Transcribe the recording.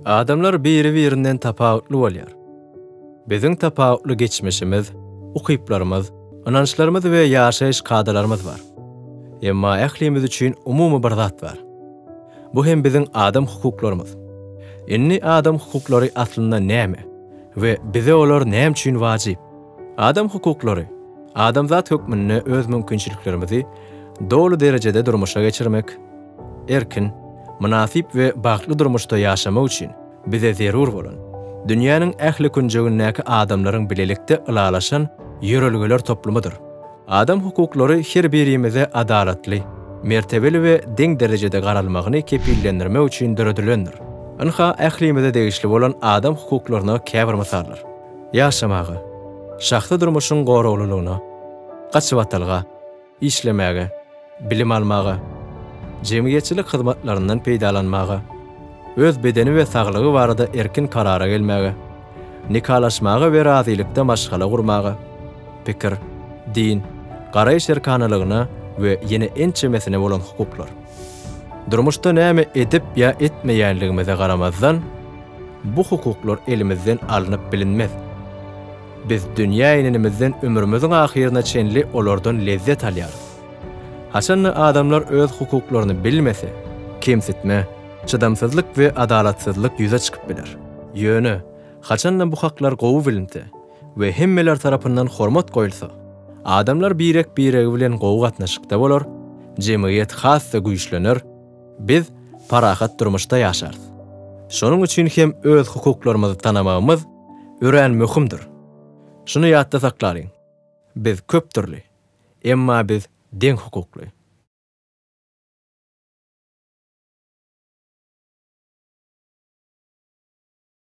Adamlar biri-birinden tapawutly bolýar. Biziň tapawutly geçmişimiz, ukyplarymyz, ynançlarymyz we ýaşaýyş kadalarymyz bar. Emma ählimiz üçin umumy bir zat bar. Bu hem biziň adam hukuklarymyz. Indi adam hukuklary aslynda näme we bize olar näme üçin wajyp? Adam hukuklary, adamzat hökmünde öz mümkinçiliklerimizi doly derejede durmuşa geçirmek, Erkin, mynasyp we bagtly durmuşda ýaşamak üçin bize zerur bolan, dünýäniň ähli künjegindäki adamlaryň bilelikde ylalaşan ýörelgeler toplumydyr. Adam hukuklary her birimize adalatly, mertebeli we deň derejede garalmagyny kepillendirmek üçin döredilendir. Ynha, ählimize degişli bolan adam hukuklaryna käbir mysallar. Ýaşamaga, şahsy durmuşyň goraglylygyna, gaçybatalga, işlemäge, bilim almaga, jemgyýetçilik hyzmatlaryndan peýdalanmaga, öz bedeni we saglygy barada erkin karara gelmäge, nikalaşmaga we razylykda maşgala gurmaga, pikir, din, garaýyş erkanalygyna we ýene ençemesine bolan hukuklar. Durmuşda näme edip ýa etmeýänligimize garamazdan, bu hukuklar elimizden alnyp bilinmez. Biz dünýä inenimizden ömrümiziň ahyryna çenli olardan lezzet alýarys. Haçan-da adamlar öz hukuklaryny bilmese, kemsitme, çydamsyzlyk we adalatsyzlyk ýüze çykyp biler. Ýöne, haçan-da bu haklar gowy bilinse we hemmeler tarapyndan hormat goýulsa, adamlar birek-biregi bilen gowy gatnaşykda bolar, jemgyýet has-da güýçlener, biz parahat durmuşda ýaşarys. Şonuň üçin hem öz hukuklarymyzy tanamagymyz, örän möhümdir. Şuny ýatda saklalyň, biz köp dürli, emma biz deň hukukly.